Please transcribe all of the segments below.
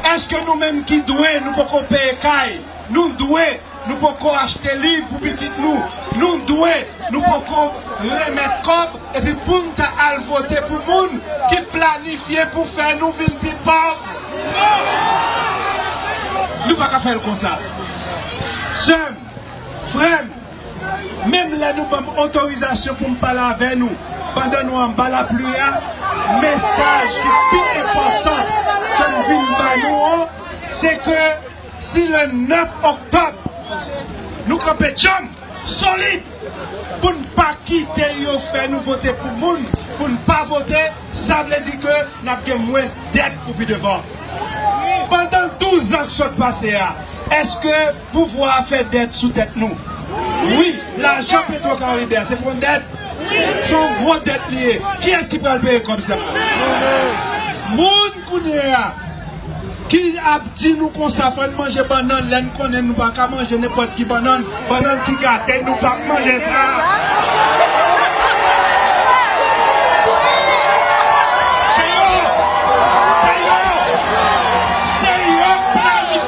Eske nou menm ki dwe nou poko peye kay, nou dwe nou poko achte liv pou pitit nou, nou dwe nou poko remèt kòb epi poun ta al vote pou moun ki planifye pou fè nou vin pi pòv? Nou paka fèl konsa. Sèm, frèm. Menm lè nou banm otorizasyon poum pale avè nou pandan nou anba lapli a, mesaj ki pi enpòtan kem vin ba nou an se ke si le 9 oktòb nou kanpe djanm, solid poun pa kite yo fè nou vote pou moun poun pa vote, sa vle di ke nap gen mwens dèt pou pi devan. Pandan 12 an k sot pase a, eske. Pouvwa a fè dèt sou tèt nou. Wi, lajan Petro Caribe a se pou yon dèt. Se yon gwo dèt li ye. Kiyès ki pral peye kòb sa a? Nou menm. Moun kounye a ki ap di nou konsa fò n manje bannann lè n konnen nou pa ka manje nenpòt ki bannann, bannann ki gate nou pa p manje sa a. Se yo! Se yo! Se yo k planifiye sa a.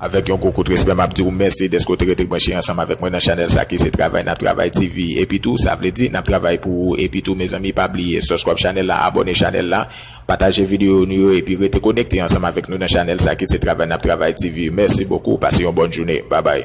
Avèk yon gwo kout respè map diw mèsi dèske w te rete branche ansanm avèk mwen nan chanèl sa ki se travay nap travay TV epi tou sa vle di nap travay pou ou epi tou mezanmi pa bliye sòskrab chanèl la abòne chanèl la pataje videyo nou yo epi rete konekte ansanm avèk nou nan chanèl sa ki se travay nap travay TV mèsi bokou pase yon bòn joune babay.